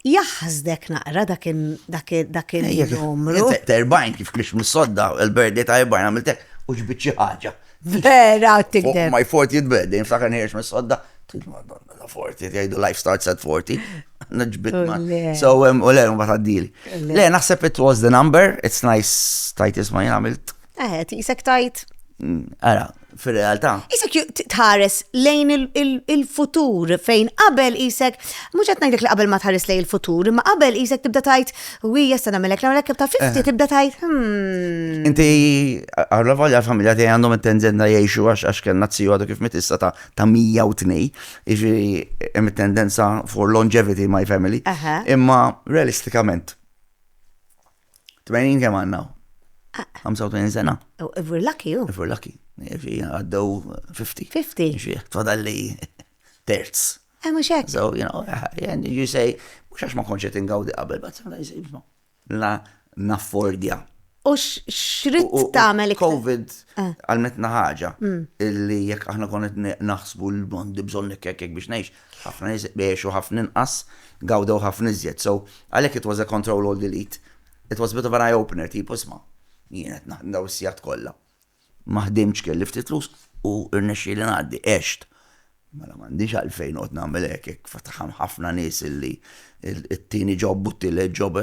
Jaħsdek naqra dak il-numru. Ta' 40 kif kiex mis-sodda, il-birthday ta' 40 għamiltek u ġbit xi ħaġa. Vera, tikdeb. My 40th birthday, nfakar nħiex mis-sodda, madonna, la 40, jgħidu life starts at 40. Nġbit ma. So, u le, ma taddili. Le, naħseb it was the number, it's nice, tajt isma jgħamilt. Eh, tisek tajt. Mm, ara, fir-realtà. Isek tħares lejn il-futur fejn qabel isek, mhux qed ngħidlek li qabel ma tħares lejn il-futur, imma qabel isek tibda tajt, wi jesta nagħmilek nagħmilek kif ta' fifti eh. tibda tajt. Hmm. Inti għarra volja l-familja tiegħi għandhom it-tendenza jgħixu għax għax kellna tziju għadu kif mitissa ta' ta' 102, iġi hemm it-tendenza for longevity my family. Imma realistikament 80 kemm għandna? 85 sena. Oh, if we're lucky, ju. If we're lucky. If għaddew 50. 50. Ġieħ, tfadalli terz. Eh, mux hekk. So, you know, eh, and you say, mux għax ma konċet ingawdi qabel, but sometimes, you know, la naffordja. U xrit tamel Covid eh. għalmetna ħaġa mm. illi jekk aħna konet naħsbu l-bondi bżon nekkek biex neħx, Ħafna nies għexu ħafna inqas, gawdew ħafna iżjed. So, għalhekk it was a control all delete. It was a bit of an eye opener tipo isma', jien qed naħdem dawn is-sigħat kollha. Ma ħdimtx kelli ftit flus u rnexxieli ngħaddi, għext. Mela m'għandix għalfejn noqgħod nagħmel hekk, hekk fatħa hemm ħafna nies li t-tieni job u t-tielet job,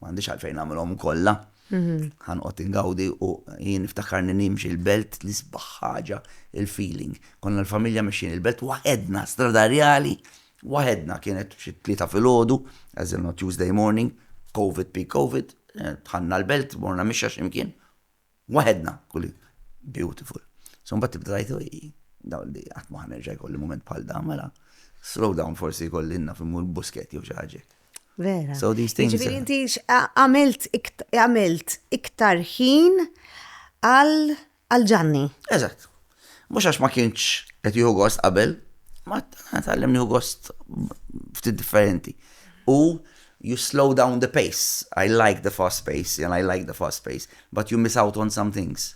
m'għandix għalfejn nagħmilhom kollha. Ħa noqgħod ingawdi u jien niftakarni nimxi l-belt l-isbaħ ħaġa il-feeling. Konna l-familja mexjin il-belt waħedna, Strada Rjali waħedna kienet xi t-tlieta filgħodu, as in on Tuesday morning, covid peak covid, dħalna l-belt morna mixja xi mkien waħedna kull beautiful. So mbagħad tibda tgħid ojj dawn li qatt ma ħa nerġa' jkolli mument bħal dan mela slow down forsi jkolli naf immur buskett jew xi ħaġa hekk. Vera. So these things. Ġifieri inti għamilt għamilt iktar ħin għal ġanni. Eżatt. Mhux għax ma kienx qed jieħu gost qabel, ma tgħallem nieħu gost ftit differenti. U you slow down the pace. I like the fast pace and I like the fast pace, but you miss out on some things.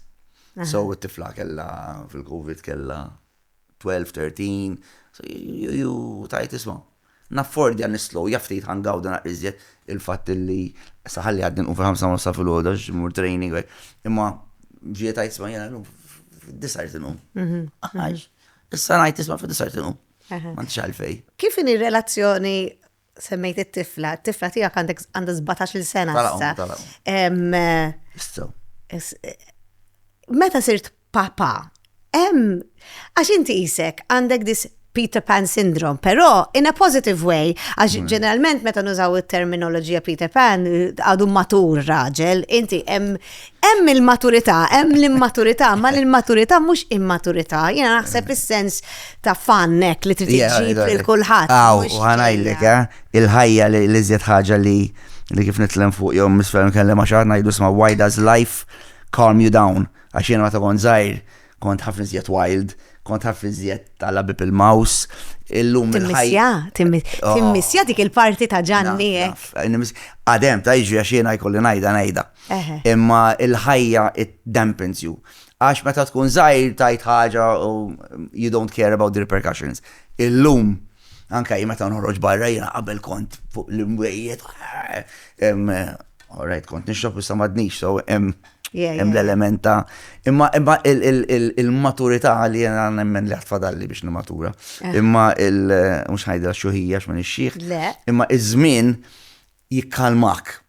So it-tifla kella fil-Covid kella 12, 13, so you tajt isma. Naffordja nislow ja ftit ħa ngawdu naqra iżjed il-fatt li sa ħalli jgħaddi nqum fil-ħamsa u nofs ta' filgħodu għax immur training u hekk. Imma ġie tgħid isma' jiena llum fid-disgħa rrid inqum. Għax issa ngħid isma' fid-disgħa rrid inqum. M'għandix għalfejn. Kif inhi r-relazzjoni semmejt it-tifla, it-tifla tiegħek għandek għandha 17-il sena Tala' issa. ummi, tala' ummi. Em, Issa. is- Meta sirt papa. Hemm għax inti isek għandek dis Peter Pan syndrome, però in a positive way, għax mm. ġeneralment meta nużaw it-terminoloġija Peter Pan għadu matur raġel, inti hemm il-maturità, hemm l-immaturità, ma l-immaturità mhux immaturità, jiena naħseb is-sens ta' fannek li trid iġib lil kulħadd. Aw, u ħanajlek eh, il-ħajja li iżjed ħaġa li li kif nitlem fuq jew misfel nkellem għax aħna jdu sma' why does life calm you down? Għax jiena meta kont żgħir kont ħafna iżjed wild, kont ħafna iżjed tal-labib il-maws, illum il-ħajja. Timmissja, oh. timmissja dik il-parti ta' ġanni hekk. Għadem, ta' iġri għax jiena jkolli ngħidha ngħidha. Imma il-ħajja it dampens you. Għax meta tkun żgħir tajt ħaġa u you don't care about the repercussions. Illum anka jien meta nħorġ barra jiena qabel kont fuq l-imwejjed Alright, kont nixrob issa madnix, so hemm hemm l-element ta' imma imma il-maturità li jena nemmen li ħatfadalli biex nimatura. Eh. Imma il mhux ħajdra xuħija x'min ix-xieħ. Imma iż-żmien jikkalmak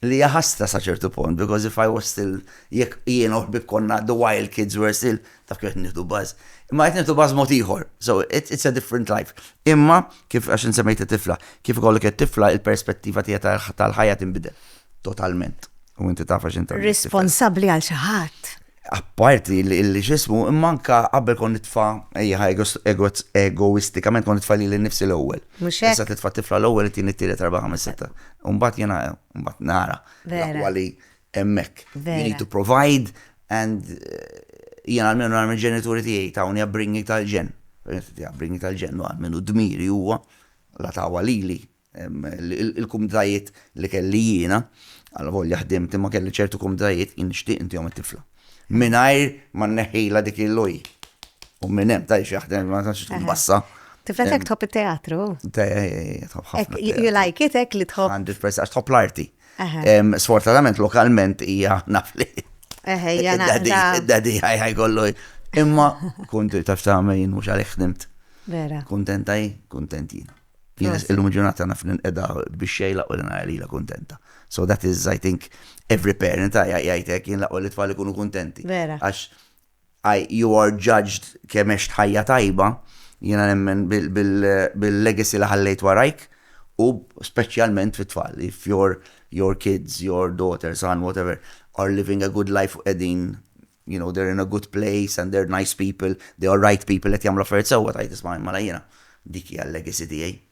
li jaħasta sa ċertu punt, because if I was still, jek jien uħbib konna the wild kids were still, ta' kif qed nieħdu baż. Imma qed nieħdu baż mod ieħor. So it's a different life. Imma kif għax insemmejt it-tifla, kif ikollok it-tifla il-perspettiva tiegħek tal-ħajja tinbidel totalment. U inti taf għax inti. Responsabbli għal xi ħadd. Apparti li xismu, imma anka qabel kon nitfa ejja egoistikament kon nitfa li l-nifsi l-ewwel. Mhux hekk. Issa titfa' tifla l-ewwel it-tieni t-tielet erba' ħames sitta. Mbagħad jiena mbagħad nara. Vera. hemmhekk. You need to provide and jiena għalmenu nara mill-ġenituri tiegħi tawni upbringing tal-ġenn. Upbringing tal-ġenn u għalmenu dmiri huwa la tawha lili il-kumditajiet li kelli jiena, għal volja ħdimt imma kelli ċertu kumditajiet jien nixtieq intihom it-tifla. Mingħajr ma nneħħilha dik il-loj. U minn hemm tajx jaħdem ma tantx tkun bassa. Tifla tek tħobb it-teatru. You like it hekk li tħobb. Għandi press għax tħobb l-arti. Sfortunatament lokalment hija naf li. Dadi ħaj kollu. Imma kont taf ta' mejn mhux għalhekk ħdimt. Vera. Kuntenta hi, kuntent jiena. Illum ġurnata naf ninqeda biex xejla u nara lila kuntenta. So that is, I think, every parent jgħidlek jien laqwa li tfal ikunu kuntenti. Vera. Għax I you are judged kemm għext ħajja tajba, jiena nemmen bil-legacy li ħallejt warajk u speċjalment fit-tfal, if your your kids, your daughter, son, whatever, are living a good life u qegħdin you know they're in a good place and they're nice people, they are right people qed jagħmlu affarijiet sewwa tgħid isma' mela jiena dik hija l-legacy tiegħi.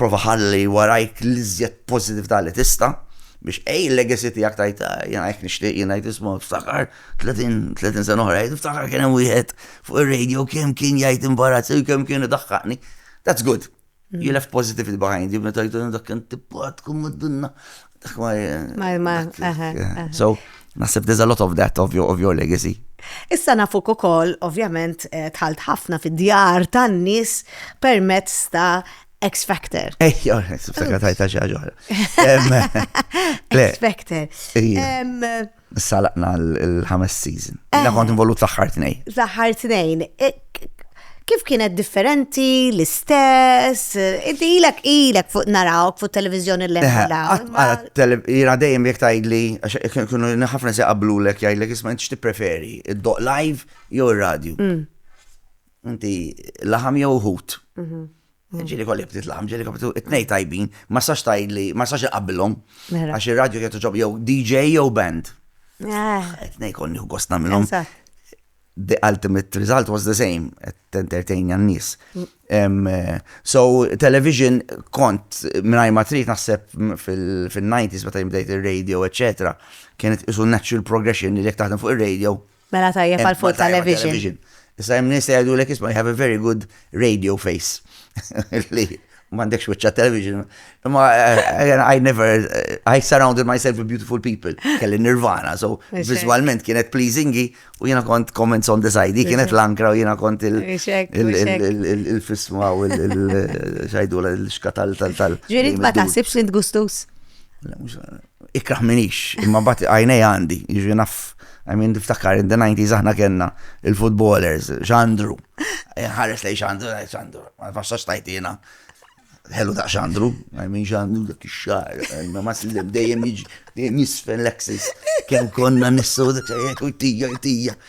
Prova ħalli warajk l-iżjed pożitività li tista' biex ej il-legacy tiegħek tgħid jiena hekk nixtieq jien ngħid isma' ftakar 30 sena oħra jgħid ftakar kien hemm wieħed fuq ir-radio kemm kien jgħid imbarazz u kemm kien idaħħaqni. That's good. You left positivity behind you meta jgħidu dak kien tippat tkun mad-dinna. Dak ma. Ma, ma, So, Nasib there's a lot of that of your, of your legacy. Issa nafuk ukoll, ovvjament, eh, tħalt ħafna fid-djar tan-nies permezz ta' X Factor. Ejja, X Factor tajta xi ħaġa X Factor. Issa laqna l-ħames season. Jina eh. kont involut fl-aħħar tnejn. L-aħħar tnejn. Eh, kif kienet differenti, l-istess, inti ilek ilek fuq narawk fuq televizjoni l eh, Jina dejjem jek tajdli, kienu ħafna se qablu l-ek jgħidlek isma' inti preferi, id-doq live jew ir-radio. Mm. Inti laħam jew hut. Mhm. Ġili kolli btit laħam, ġili kolli btit it-nej tajbin, ma sax tajd li, ma sax iqabbilhom. Mela. Għax il-radio kietu ġob jew DJ jew band. Ah. It-nej kolli u gostna minnhom. The ultimate result was the same, at entertain jan nis. Mm. Eh, so, television kont minnaj matrit naħseb fil-90s meta jimbdejt il-radio, etc. Kienet isu natural progression li jek taħdem fuq il-radio, Mela tajjeb għal fuq television. Issa hemm nies li jgħidulek isma' you have a very good radio face. Li m'għandekx wiċċa television. Imma eh, I never I surrounded myself with beautiful people. Kelli Nirvana, so visualment kienet pleasingi u jiena kont comments on the side. Kienet l-ankra u jiena kont il-fisma u il-xajdula il-xkatal tal-tal. Ġirit ma taħsibx li tgustus? ikraħ minix, imma bat għajnej għandi, jiġri naf, għamin diftakar, in the 90s aħna kena il-footballers, xandru, eh, ħares lej xandru, lej xandru, ma faxax tajtina, ħelu ta' xandru, għamin xandru dak xar, ma ma s-lim dejjem jisfen l-axis, kem konna nissu dak xajek u tija, tija,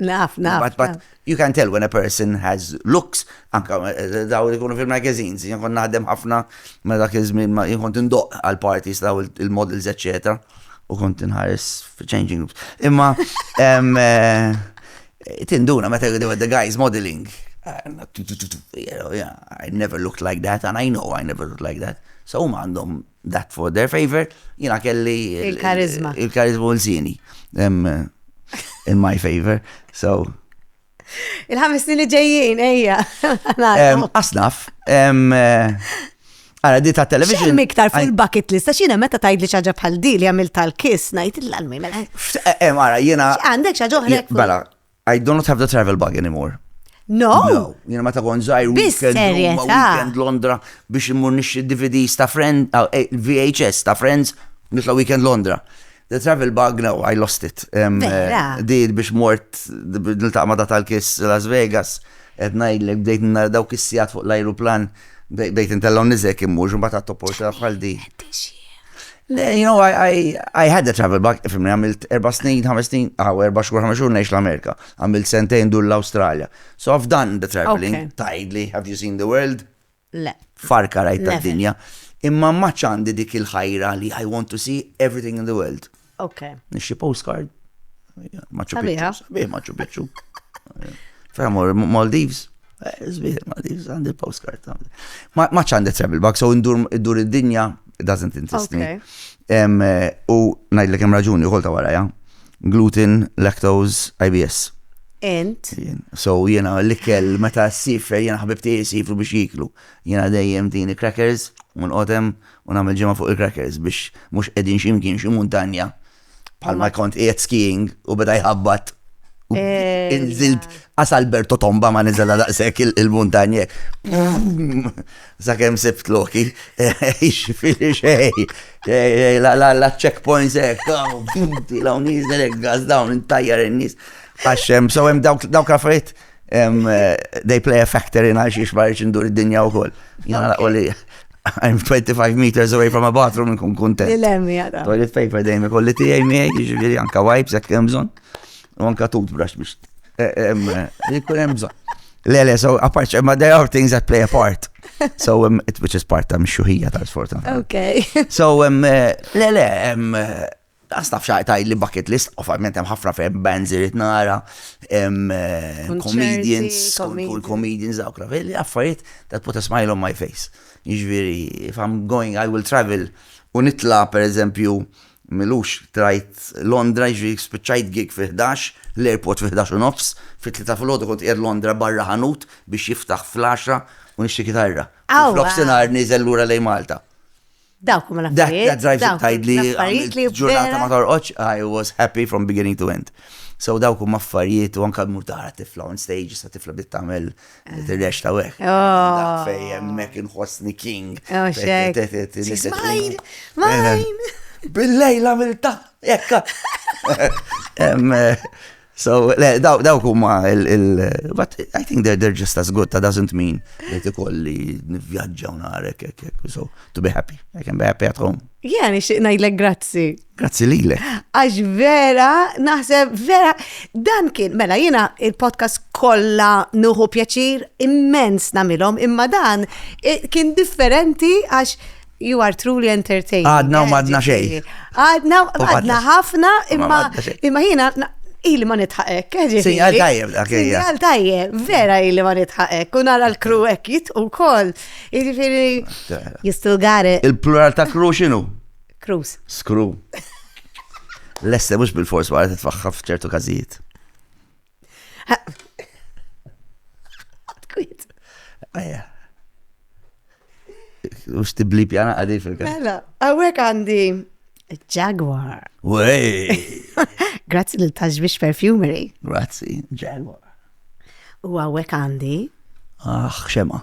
Naf, naf. But, but you can tell when a person has looks, anka eh, daw li kunu fil-magazines, jien kont naħdem ħafna ma dak iż-żmien ma jien kont indoq għal parties daw il-models eċetera u kont inħares fi changing rooms. Imma eh, tinduna meta jgħidu the guys modeling. I never looked like that and I know I never looked like that. So huma għandhom that for their favor, jina kelli il-karizma. Il-karizma u l-zini. In my favor, so. Il-ħames li ġejjin, ejja. Asnaf, Għara, di ta' television. Xem iktar fuq il-bucket list, għax jena meta tajd li xaġa bħal di li għamil tal-kiss, najt l-għalmi, mela. Għara, jena. Għandek xaġa uħrek. Bala, I do not have the travel bug anymore. No? No, jena ma ta' kon zaħir weekend, weekend Londra biex immur nixri DVDs ta' friend, ah, eh, VHS ta' friends, nitla weekend Londra. The travel bug, no, I lost it. Um, eh, di biex mort, nil-taqma da tal-kiss Las Vegas, etna il bdejt nara dawk kissijat fuq l-aeroplan, bdejt intella nizek immur, ġumbat għat-toporta bħal di. Le, you know, I, I, I had a travel bug, fimni għamilt erba snin, ħames snin, għaw erba xkur ħames xhur neħx l-Amerika, għamilt sentejn dur l-Australia. So I've done the traveling, okay. tajdli, have you seen the world? Le. Farka rajt ta' dinja. Imma maċ għandi dik il-ħajra li I want to see everything in the world. Ok. Nixxi postcard, Machu Picchu. Sabiħ Machu Picchu. Framor, Maldives. Zbih, eh, Maldives, għandi postcard. Ma ċandi travel bag, so indur id-dinja, doesn't interest me. Eh, u najd l-kem raġuni, u kolta waraja. Gluten, lactose, IBS. Int? So jena l-ikel meta s-siffer jena ħabibti jisifru biex jiklu. Jena dejjem dini crackers, un qotem, un għamil ġemma fuq il-crackers biex mux edin ximkien xim montanja Bħal ma kont qiegħed skiing u beda jħabbat. Eh, Inżilt għas Alberto Tomba ma nizela daqsek il-muntanje. Zakem sibt loki, xifiri xej, la checkpoints ek, la unizel ek, gaz dawn, intajjar il-nis, għaxem, so jem dawk raffariet. Dawk They play a factor in għal xiex marriċ indur id-dinja u koll. Jena laqo li I'm 25 meters away from a bathroom nkun kontent. Il-emmi għada. Toilet paper dejjem ikolli tiegħi miegħi, jiġifieri anka wipes jekk hemm bżonn. U anka toothbrush biex eh, eh, eh, jkun hemm bżonn. Le, le, so apart, ma there are things that play a part. So, um, it, which is part ta' mxuħija ta' sfortuna. Okay. so, um, le, le, um, Lanqas naf xi tgħidli bucket list, ovvjament hemm ħafna ferm bands irid nara, hemm comedians, skont kull comedians dawk naf, li affarijiet that put a smile on my face. Jiġifieri if I'm going I will travel u nitla' pereżempju m'ilux trajt Londra jiġifieri spiċċajt gig fil-ħdax, l-airport fil-ħdax u nofs, fit-tlieta filgħodu kont qiegħed Londra barra ħanut biex jiftaħ fl-għaxra u nixtri kitarra. U f'nofsinhar nieżel lura lejn Malta. Dawk huma l-affarijiet. That drives it tgħidli affarijiet li ġurnata ma torqodx I was happy from beginning to end. So dawk huma affarijiet u anke mur tara tifla on stage sa tifla bdiet tagħmel eh. tirrex ta' weħ. Oh. Fej hemmhekk inħossni king. Oh, mine! Mine! Billejla mill-ta' jekka. Eh, So, le, dawk huma il but I think they're, they're just as good, that doesn't mean li tikolli nivvjaġġa u narek, ek, ek, so, to be happy, I can be happy at home. Yeah, nixtieq ngħidlek grazzi. Grazzi lile. Għax vera, naħseb vera, dan kien, mela jiena il-podcast kollha nuħu pjaċir immens namilhom, imma dan kien differenti għax You are truly entertaining. Għadna u madna xej. Għadna u għadna ħafna imma imma jina ili ma nitħaqek. Sinjal tajjeb dak Sinjal tajjeb, vera ili ma nitħaqek. U nara l-kru hekk jitqu wkoll. Jiġifieri jistu gare. Il-plural ta' kru x'inhu? Krus. Skru. Lesse mhux bil-fors wara titfaħħaf f'ċertu każijiet. Kwit. Ejja. U xtibli pjana għadi fil-kas. Mela, għawek għandi Jaguar. Wej! Grazzi l taġbix perfumery. Grazzi, Jaguar. U għawek għandi. Ah, xema.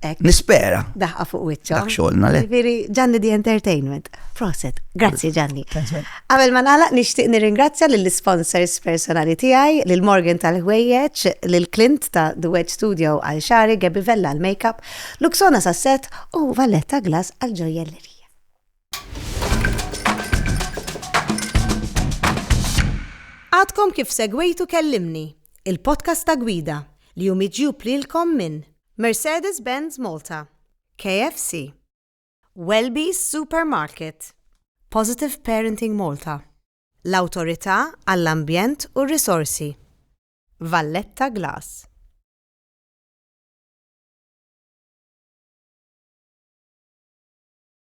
Ek. Nispera. Daħqa fuq wicċa. Dak xolna le. Viri, Gianni di Entertainment. Proset. Grazzi Gianni. Għabel ma nala, nishtiq nirringrazzja lill-sponsors personali tijaj, lill-Morgan tal-ħwejjeċ, lill-Clint ta' The Wedge Studio għal xari, Gabi Vella għal makeup, Luxona Sasset u Valletta Glass għal ġojellerija. Għadkom kif segwejtu Kellimni, il-podcast ta' gwida li hu miġjub lilkom minn Mercedes-Benz Malta, KFC, Welby's Supermarket, Positive Parenting Malta, l-Awtorità għall-Ambjent u r-Risorsi, Valletta Glass.